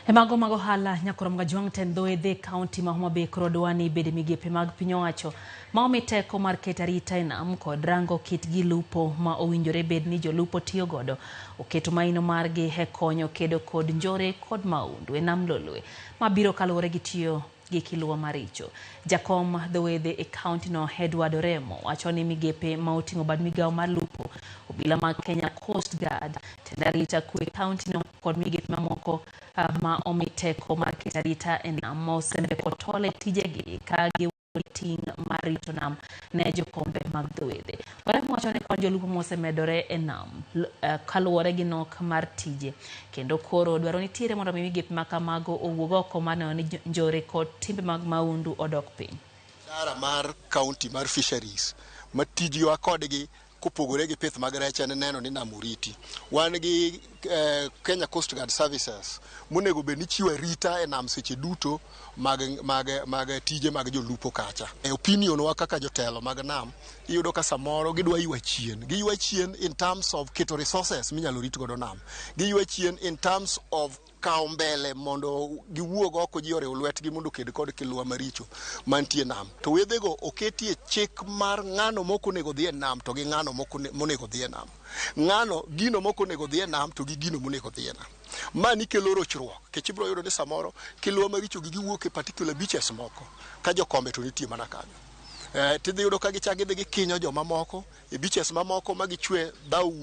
E mago mag ohala, Nyakorom Gajwang' Ten Dho Edhe, kaunti ma Homa Bay koro dwa ni ibed e migepe mag piny owacho ma omi teko mar keto arita e nam kod rango kit gi lupo ma owinjore bed ni jolupo tiyo godo. Oketo maino margi e konyo kedo kod njore kod maundu e nam Lolwe ma biro kaluwore gi tiyo gi kiluwa maricho. Jakom dhowedhe e kaontino Edward Oremo wacho ni migepe ma oting'o bad migawo mar lupo, obila mag Kenya Coast Guard, tend arita kwe e kaontino kod migepe mamoko ah, ma omi teko mar keto arita e nam ma osembe kod tole tijegi ka giwuok gi ting' mar rito nam ne jokombe mag dhowedhe. Warem wacho ni kwan jolupo mosemedore e nam eh, kaluwore gi nok mar tije kendo koro dwaro nitiere mondo mi migepe ma kamago owuog oko mar neno ni njore kod timbe mag maundu odok piny. Idara mar kaunti mar fisheries ma tijwa kodgi kopogore gi pith mag rech en neno ni nam oriti. Wan gi eh, Kenya Coast Guard Services monego bed ni chiwo arita e nam seche duto mag, mag, mag tije mag jolupo kacha. E opinion wa kaka jotelo mag nam, iyudo ka samoro gidwa ywa chien. Giywa chien in terms of keto resources minyalo rit godo nam. Giywa chien in terms of kawo mbele mondo giwuog oko ji oriw lwetgi mondo oked kod kiluwa maricho mantie nam. To wedhego oketie chik mar ng'ano mok onego dhi e nam to gi ng'ano mok one- monego dhi e nam. ng'ano gino mok onego dhi e nam to gi gino monego dhi e nam. Mani kelo rochruok nikech ibiro yudo ni samoro kiluwa maricho gi giwuok e particular beaches moko ka jokombe to nitie mana kanyo. Eh, tidhi yudo ka gichak gidhi gikinyo jomamoko e beaches mamoko ma gichwe dhaw